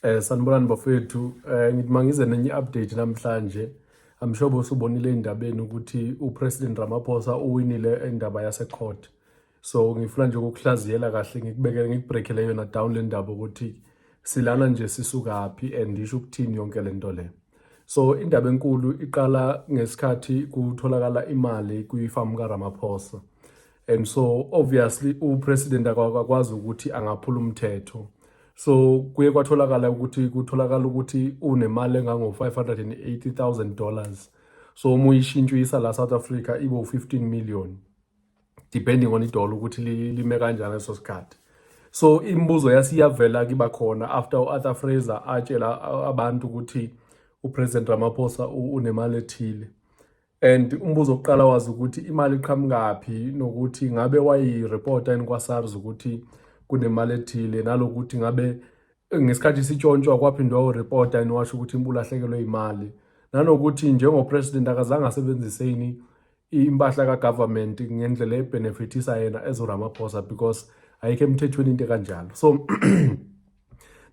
Eh sanibonani bafethu eh ngithi mangize nenye update namhlanje I'm sure bosubonile indabeni ukuthi uPresident Ramaphosa uwinile endaba yase court so ngifuna nje ukukuhlaziyela kahle ngikubekele ngikubreakele yona down le ndaba ukuthi silana nje sisukaphi and isho ukuthini yonke le nto le so indaba enkulu iqala ngesikhathi kutholakala imali kwifamu kaRamaphosa and so obviously upresident akakwazi ukuthi angaphula umthetho so kuye kwatholakala ukuthi kutholakala ukuthi unemali engango-580000 dollars so uma uyishintsha uyisa la south africa ibo 15 million depending on idola ukuthi lime kanjani leso sikhathi so imibuzo yasiyavela kiba khona after u-arthur fraser atshela abantu ukuthi upresident ramaphosa unemali ethile and umbuzo oqala wazi ukuthi imali iqhamukaphi nokuthi ngabe wayireporta yini kwa-SARS ukuthi kunemali ethile nalokuthi ngabe ngesikhathi sitshontshwa kwaphindwa ureporta yini washo ukuthi ulahlekelwe imali nanokuthi njengopresident akazange asebenzise yini impahla ka-government ngendlela ebhenefithisa yena ezoramaphosa because ayikho emthethweni into ekanjalo so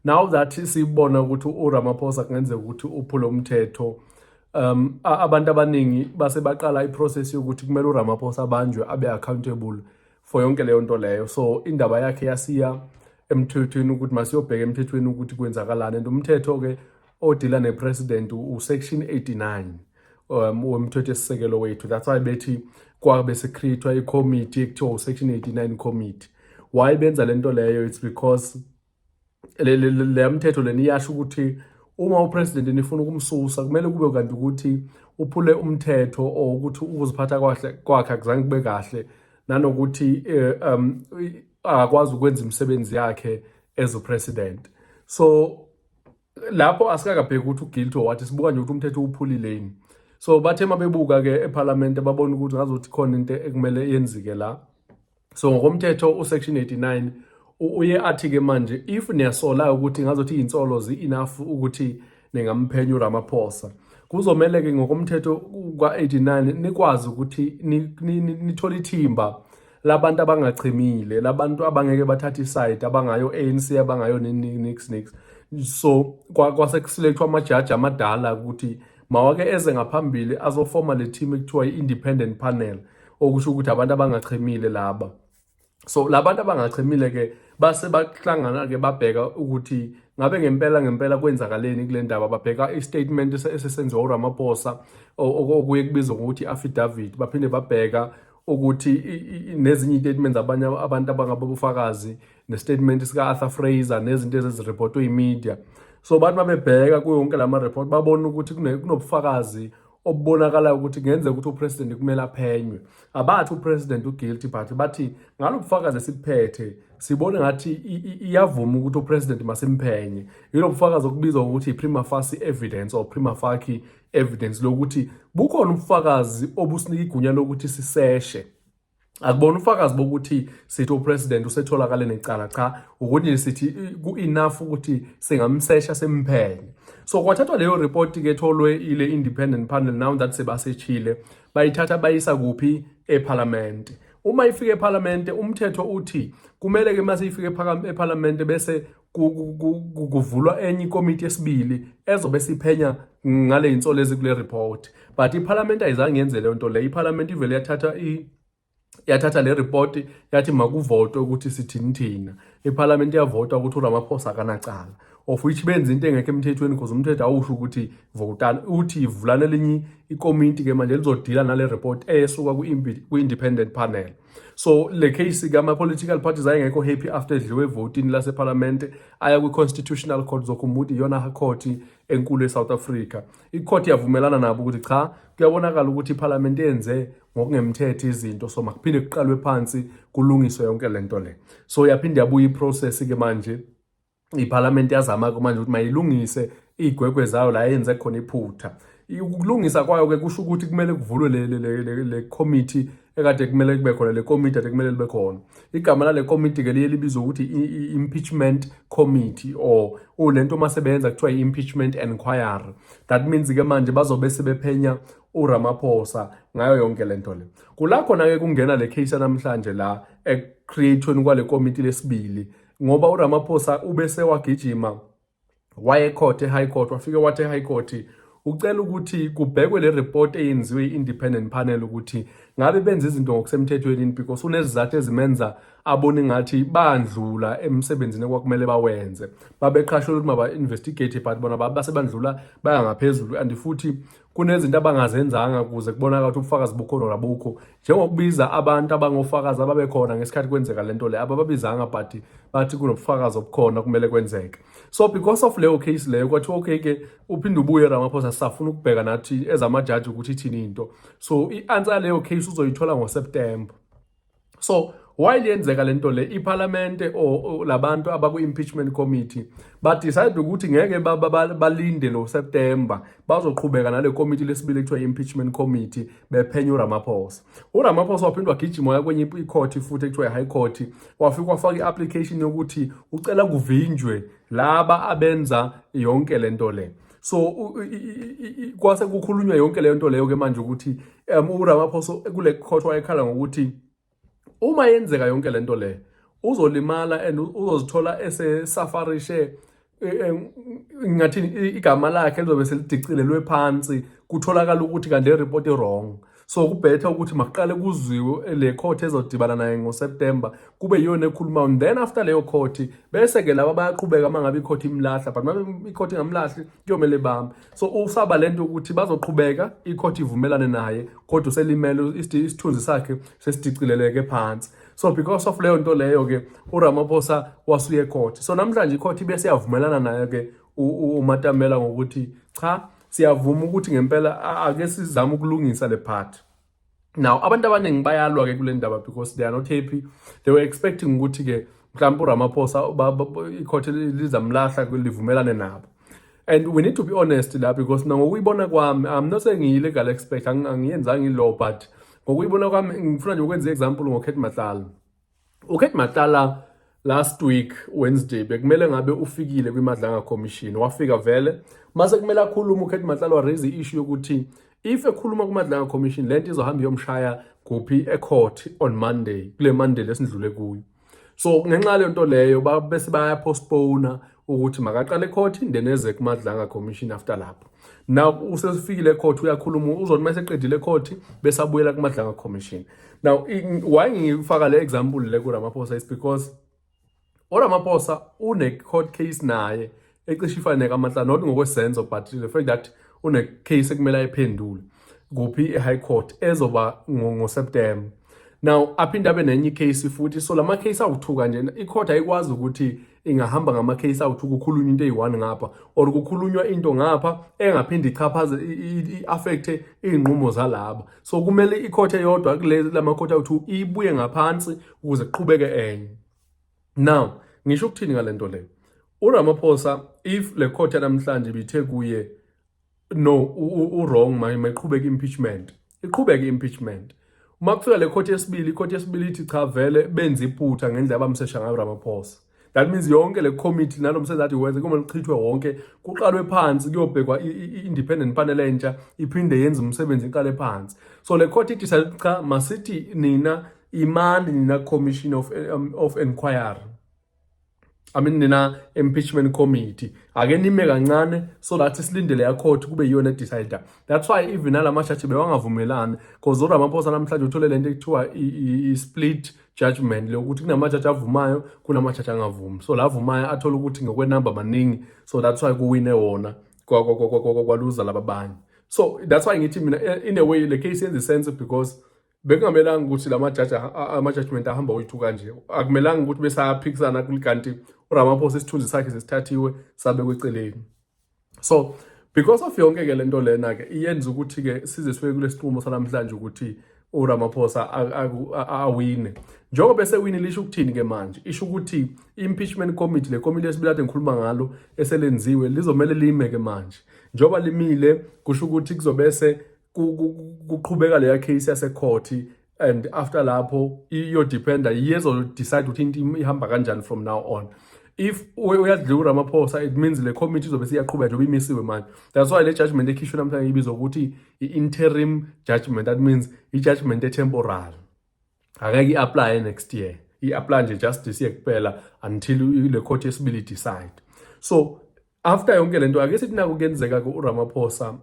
now that sibona ukuthi uRamaphosa kungenzeka ukuthi uphule umthetho um abantu abaningi base baqala iprocess yokuthi kumele uRamaphosa abanjwe abe accountable for yonke leyo nto leyo so indaba yakhe yasiya emthethweni ukuthi masiyobheka emthethweni ukuthi kwenzakalani and umthetho ke odila nepresident usection 89 um, wemthetho esisekelo wethu that's why bethi kwabe secreatwa icommittee ekuthiwa usection 89 committee why benza le nto leyo it's because le mthetho leni iyasho ukuthi uma upresident nifuna ukumsusa kumele kube kanti ukuthi uphule umthetho or ukuthi ukuziphatha kwakhe kwakhe akuzange kube kahle nanokuthi eh, um akwazi ukwenza imisebenzi yakhe as a president so lapho asikakabheki ukuthi uguilty or what sibuka nje ukuthi umthetho uwuphulile yini so bathe uma bebuka-ke ephalamende babona ukuthi ngazothi khona into ekumele yenzike la so ngokomthetho usection 89 uye athi-ke manje if niyasola ukuthi ngazothi iy'nsolo zi-enough ukuthi ningamphenya uramaphosa kuzomele-ke ngokomthetho kwa-89 nikwazi ukuthi nithole ithimba labantu abangachimile labantu abangeke bathathe isayidi abangayo ANC abangayo nix nix so kwasekusilethwa amajaji amadala ukuthi mawake eze ngaphambili azofoma le team ekuthiwa i-independent panel okusho ukuthi abantu abangachemile laba so labantu abangachemile ke base bahlangana ke babheka ukuthi ngabe ngempela ngempela kwenzakaleni kule ndaba babheka i-statement esesenziwa uRamaphosa okuye kubizwa ngokuthi i-affidavit baphinde babheka ukuthi nezinye iy'tatimenti zabanye abantu abangaba bufakazi nestatimenti sika-arthur fraser nezinto ezezirepotwe yimedia so abantu babebheka kuyo yonke la mareport babona ukuthi kunobufakazi obubonakalayo ukuthi kungenzeka ukuthi upresident kumele aphenywe abathi upresident uguilty but bathi ngalo bufakazi esibuphethe sibone ngathi iyavuma ukuthi upresident masimphenye yilo bufakazi okubizwa ngokuthi i-prima facie evidence or prima facie evidence lokuthi bukhona ubufakazi obusinika igunya lokuthi siseshe akubona ufakazi bokuthi sithi upresident usetholakale necala cha ukuthi sithi ku-enough ukuthi singamsesha simphenye so kwathathwa leyo report ke tholwe ile independent panel now that sebasechile bayithatha bayisa kuphi ephalamende uma ifika ephalamende umthetho uthi kumele ke mase ifika ephalamende bese kuvulwa enye ikomiti yesibili ezobe siphenya ngale insolo ezikule report but iphalamenti ayizange yenze leyo nto leyo iphalamenti ivele yathatha yathatha le report yathi makuvotwe ukuthi sithini thina iphalamenti yavota ukuthi uramaphosa akanacala of which benza into engekho emthethweni because umthetho awusho ukuthi votani uthi ivulane elinye ikomiti ke manje lizodila nale report esuka kwi-independent panel so le case kama-political parties ayengekho happy after edliwe evotini lasephalamende aya kwi-constitutional court zokhumbuti iyona khoti enkulu e-south africa ikhoti yavumelana nabo ukuthi cha kuyabonakala ukuthi iphalamende yenze ngokungemthetho izinto so makuphinde kuqalwe phansi kulungiswe yonke le nto le so yaphinde yabuya iprocess-ke manje iphalamende yazama-ke manje ukuthi mayilungise iy'gwegwe zayo la yenze khona iphutha ukulungisa kwayo-ke kusho ukuthi kumele kuvulwe le committee ekade kumele kube khona le committee ade kumele libe khona igama lale committee-ke liye libizwa ukuthi i-impeachment committee or ulento uma sebeyenza kuthiwa i-impeachment enquiry that means-ke manje bazobe sebephenya uramaphosa ngayo yonke le nto le kula khona-ke kungena le case yanamhlanje la ekucreatweni kwale committee lesibili ngoba uRamaphosa ubese wagijima waye court eHigh Court wafike wathi eHigh Court ucela ukuthi kubhekwe le report eyenziwe i-independent panel ukuthi ngabe benza izinto ngokusemthethweni yini because unezizathu ezimenza abone ngathi bandlula emsebenzini kwakumele bawenze babeqhashela ukuthi maba-investigate but bona base bandlula baya ngaphezulu and futhi kunezinto abangazenzanga ukuze kubonakala ukuthi ubufakazi bukhona nabukho njengokubiza abantu abangofakazi ababekhona ngesikhathi kwenzeka le nto le abababizanga but bathi kunobufakazi obukhona kumele kwenzeke so because of leyo case leyo kwathiwa okay ke uphinde ubuye ramaphosa sisafuna ukubheka nathi ezamajaji ukuthi ithini into so i-answer yaleyo case uzoyithola ngoseptemba so why liyenzeka lento le iphalamende or labantu abaku impeachment committee ba decide ukuthi ngeke balinde no September bazoqhubeka nale committee lesibili ekuthiwa impeachment committee bephenya uRamaphosa uRamaphosa waphindwa gijima waya kwenye icourt futhi ekuthiwa high court wafika wafaka iapplication yokuthi ucela kuvinjwe laba abenza yonke lento le so kwase kukhulunywa yonke leyo nto leyo ke manje ukuthi um uramaphosa kule court wayekhala ngokuthi uma yenzeka yonke le nto leyo uzolimala and uzozithola esesafarishe e, e, ngathini igama lakhe lizobe selidicilelwe phansi kutholakala ukuthi kanti le report i-wrong So kubhetha ukuthi makuqale kuzwiwe le court ezodibana naye ngoSeptember kube yiyona ekhuluma and then after leyo court bese ke laba bayaqhubeka uma ngabe icourt imlahla but ngabe icourt ingamlahli kuyomele bambe so usaba lento ukuthi bazoqhubeka icourt ivumelane naye kodwa uselimele isithunzi sakhe sesidicileleke phansi so because of leyo nto leyo ke uRamaphosa wasuye court so namhlanje icourt bese yavumelana naye ke uMatamela ngokuthi cha siyavuma ukuthi ngempela ake sizame ukulungisa le part now abantu abaningi bayalwa ke kule ndaba because they are not happy they were expecting ukuthi ke mhlawumbe uramaphosa ikhothe lizamlahla livumelane nabo and we need to be honest la because na ngokuyibona kwami i'm not saying ngiyile gal expect angiyenzanga ilo but ngokuyibona kwami ngifuna nje ukwenza i-example ngokhethi mahlala UKate Matlala last week Wednesday bekumele ngabe ufikile kwiMadlanga Commission wafika vele mase kumele akhulume uKate Matlala raise issue yokuthi if ekhuluma kuMadlanga Commission lento izohamba iyomshaya kuphi ecourt on Monday kule Monday lesindlule kuyo so ngenxa lento leyo bese baya postpone ukuthi makaqale court then eze kumadlanga commission after lapho now usesifikile court uyakhuluma uzona uma seqedile court bese abuyela kumadlanga commission now why ngifaka le example le kuRamaphosa is because uRamaphosa une court case naye ecishe ifane kaMatla not ngokwesenzo but the fact that une case ekumele ayiphendule kuphi i-high court ezoba ngo-september now aphinde abe nenye icase futhi so lama case awuthuka nje icourt ayikwazi ukuthi ingahamba ngama case out ukukhulunywa into eyi-one ngapha or kukhulunywa into ngapha engaphinde ichaphaze i-affecthe iy'nqumo zalaba so kumele ikhothe yodwa kula makhothe awuthu ibuye ngaphansi ukuze kuqhubeke enye now ngisho ukuthini ngale nto leyo uramaphosa if le khothe namhlanje ibithe kuye no uwrong manje mayiqhubeka impeachment iqhubeke impeachment uma kufika le court yesibili icourt yesibili ithi cha vele benza iphutha ngendlela abamsesha ngayo Ramaphosa that means yonke le committee nalo msebenzi athi wenze kumele uchithwe wonke kuqalwe phansi kuyobhekwa i-independent panel entsha iphinde yenze umsebenzi iqale phansi so le court ithi cha masithi nina imani nina commission of, um, of inquiry I mean nina impeachment committee ake nime kancane so that isilindele ya court kube yiyona decide that's why even ala mashathi bewangavumelani because uRamaphosa namhlanje uthole lento ekuthiwa i split judgment lokuthi kunamajaji avumayo kunamajaji angavumi so la avumayo athola ukuthi ngokwenamba maningi so that's why kuwine wona kwaluza laba banye so that's why ngithi mina in a way le case yenza sense because bekungamelanga ukuthi la majaji ama-judgment ahamba oyi-two kanje akumelanga ukuthi besaphikisana kanti uramaphosa isithunzi sakhe sesithathiwe sabekwe eceleni so because of yonke-ke le nto lena-ke iyenza ukuthi-ke size sibe kule sinqumo sanamhlanje ukuthi uramaphosa awine njengoba esewini lisho ukuthini-ke manje isho ukuthi i-impeachment committee le komiti esibili ade ngikhuluma ngalo eselenziwe lizomele lime-ke manje njengoba limile kusho ukuthi kuzobese kuqhubeka leya case yasekhothi and after lapho iyodependa yezodecide ukuthi into ihamba kanjani from now on if uyadliwa uramaphosa it means le committee izobe siyaqhubeka njengoba imisiwe manje that's why le judgment ekhishwe namhlanje ibizwa ukuthi i-interim judgment that means i-judgment etemporal Akeke i-apply next year. I-apply nje just this year kuphela until le court yesibili decide. So after yonke lento ake sithi naku kuyenzeka ke uRamaphosa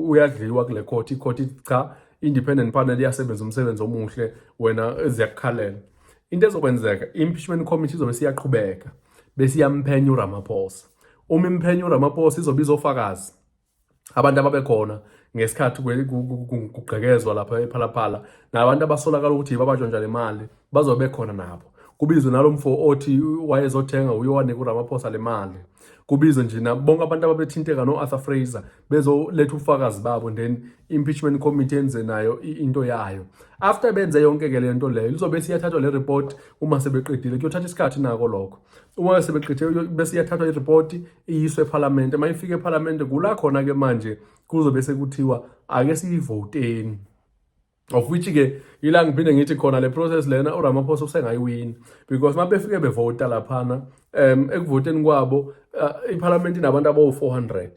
uyadliwa kule court i-court ithi cha independent panel iyasebenza umsebenzi omuhle wena eziyakukhalela. Into ezokwenzeka impeachment committee izobe siyaqhubeka bese iyamphenya uRamaphosa. Uma imphenya uRamaphosa izobe izofakazi abantu ababekhona ngesikhathi kugqekezwa lapha ephalaphala nabantu abasolakala ukuthi babajwanja le mali bazobe bekhona nabo kubizwe nalo mfo othi wayezothenga uye wanika uramaphosa le mali kubizwe nje bonke abantu ababethinteka no-arthur fraser bezoletha ubufakazi babo then impeachment committee enze nayo into yayo after benze yonke-ke le nto leyo lizobe siyathathwa le report uma sebeqedile kuyothatha isikhathi nako lokho uma sebegqithe bese iyathathwa iripoti iyiswe ephalamende uma ifika ephalamende kula khona-ke manje kuzobe sekuthiwa ake siyivoteni of which ke yila ngiphinde ngithi khona le process lena uRamaphosa usengayiwini because mabefike bevota laphana um ekuvoteni kwabo uh, iphalamenti inabantu abawu-400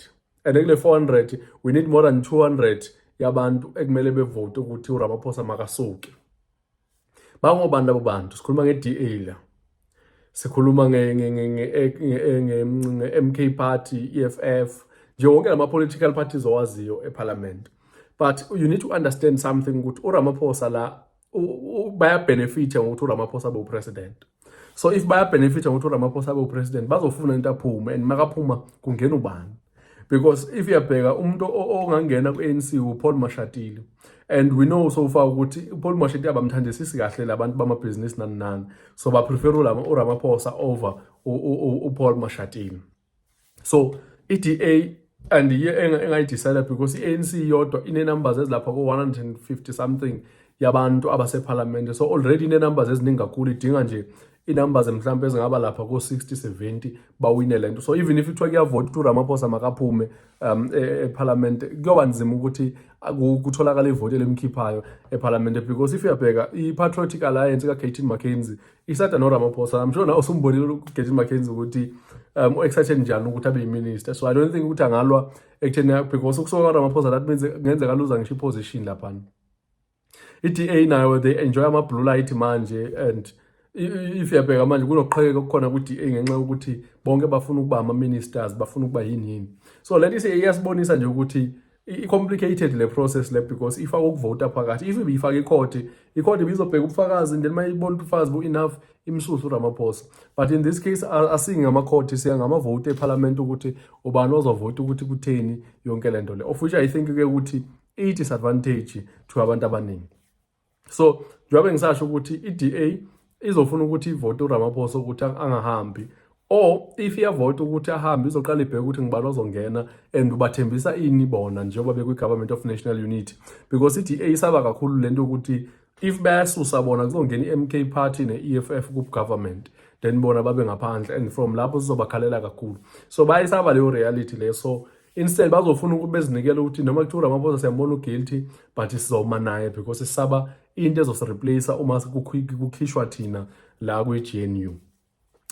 and kule 400 we need more than 200 yabantu ekumele bevote ukuthi uRamaphosa makasuke Bangobani labo bantu? Sikhuluma nge-DA la. Sikhuluma nge-MK party, EFF, nje wonke lama political parties owaziyo eParliament. But you need to understand something ukuthi uRamaphosa la baya benefit ngokuthi uRamaphosa be upresident. so if bayabenefitha ngokuthi uramaphosa abe upresident bazofuna into aphume and makaphuma kungena ubani because if uyabheka umuntu ongangena ku-anc upaul mashatile and we know so far ukuthi upaul mashatile abamthandisisi kahle labantu bamabhizinisi nani nani so baprefer uramaphosa over upaul mashatile so i-DA and iye engayidisayida because i-ANC yodwa ine-numbers ezilapha ko-150 something yabantu abasephalamende so already ine-numbers eziningi kakhulu idinga nje i-numbers mhlawumbe ezingaba lapha ko-60 70 bawine le nto so even if kuthiwa kuyavota ukuthi uramaphosa makaphume um e, e, ephalamende kuyoba nzima ukuthi kutholakala ivoti elimkhiphayo ephalamende because if uyabheka i-patriotic alliance ka-gatin mckenzie isada noramaphosa i'm sure nawe usumbonile ugeti mackenzie ukuthi um u-excited njani ukuthi abe yiminister so i don't think ukuthi angalwa ekutheni because ukusuka kwaramaphosa that means kungenzeka luza ngisho iposition laphana i-da nayo they enjoy ama-blue light manje and if yabheka manje kunoqhekeka okukhona ku-da ngenxa yokuthi bonke bafuna ukuba ama-ministers bafuna ukuba yini yini so le nto iyasibonisa nje ukuthi i-complicated le process le because ifaka ukuvota phakathi if ibiyifaka ikhodi ikhodi ibizobheka ubufakazi and then uma ibona ubufakazi bu-enough imsuse uramaphosa but in this case asingi ngamakhodi siya ngamavoti ephalamenti ukuthi ubani ozovota ukuthi kutheni yonke le nto le of which i think-ke ukuthi i-disadvantage to abantu abaningi so njengoba ngisasho ukuthi i-DA izofuna ukuthi ivote uRamaphosa ukuthi angahambi or if iyavota ukuthi ahambe izoqala ibheke ukuthi ngibani ozongena and ubathembisa ini bona njengoba bekwi-government of national unity because i-da isaba kakhulu le nto yokuthi if bayasusa bona kuzongena i-mk party ne-e f f kugovernment then bona babe ngaphandle and from lapho sizobakhalela kakhulu so bayisaba leyo reality leyo so instead bazofuna ukuthi bezinikele ukuthi noma kuthiwa uramaphosa siyambona uguilty but sizoma naye because sisaba into ezosireplace uma kukhishwa thina la kwi-gnu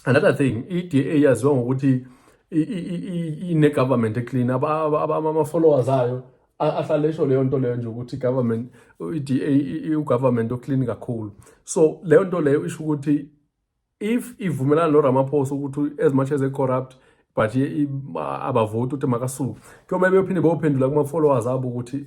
another thing i-da yaziwa ngokuthi ine-government eclean ama-followers ayo ahlale esho leyo nto leyo nje ukuthi government i-da iwugovernment oclean kakhulu so leyo nto leyo isho ukuthi if ivumelana noramaphosa ukuthi as much as they corrupt but abavoti ukuthi makasuke kuyomele beyophinde beyophendula kuma-followers abo ukuthi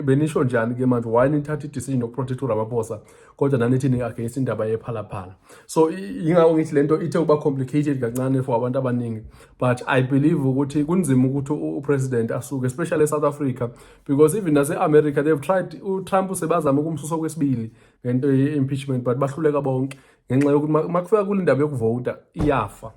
benisho njani ke manje why nithatha i-decision yokuprotect uramaphosa kodwa nanithi ni-against indaba yephalaphala so yingako ngithi le nto ithe ukuba complicated kancane for abantu abaningi but i believe ukuthi kunzima ukuthi upresident asuke especially esouth africa because even nase-america they've tried utrump sebazama ukumsusa kwesibili ngento ye-impeachment but bahluleka bonke ngenxa yokuthi uma kufika kule ndaba yokuvota iyafa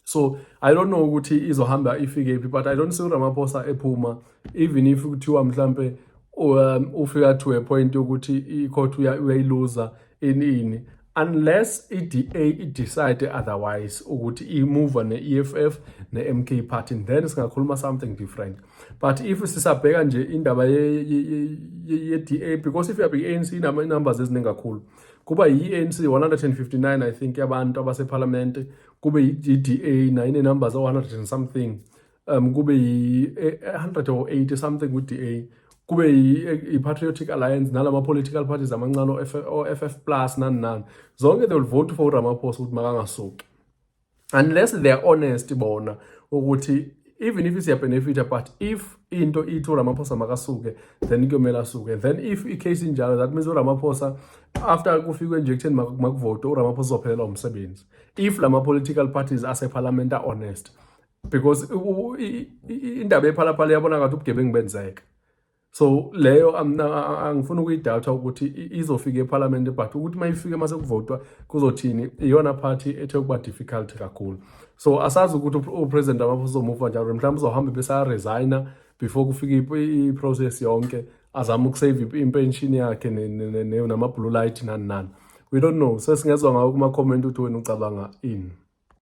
so i don't know ukuthi izohamba ifikephi but i don't see uramaphosa ephuma even if kuthiwa mhlampe um, ufika to a point yokuthi i-court uyayiluza ini ini unless i-DA i-decide otherwise ukuthi imuva ne-EFF ne-MK party then singakhuluma something different but if sisabheka nje indaba ye-DA because if you have i-ANC inama numbers eziningi kakhulu kuba yi-ANC 159 I think yabantu abasephalamende kube yi-DA nayo ine-numbers o-100 and something um kube yi-180 something ku-DA kube yi-patriotic e, alliance nalama political parties amancane o-FF plus nani nani zonke they will vote for uRamaphosa ukuthi makangasuki unless they are honest bona ukuthi even if siyabenefita but if into ithi uramaphosa makasuke then kuyomele asuke then if icase injalo that means uramaphosa after kufikwe injection makuvote uramaphosa uzophelelwa umsebenzi if la ma-political parties asephalament a-honest because indaba yephalaphala yabona ngathi ubugebengu benzeka so leyo angifuni ukuyidata ukuthi izofika ephalamende but ukuthi uma ifike uma sekuvotwa kuzothini iyona party ethe ukuba difficult kakhulu so asazi ukuthi upresident amaphosa uzomuva njalo mhlawumbe uzohambe besaresigna before kufika iprocess yonke azama ukusave impenshini yakhe nama-blue light nani nani we don't know sesingezwa ngawo kuma-comment ukuthi wena ucabanga ini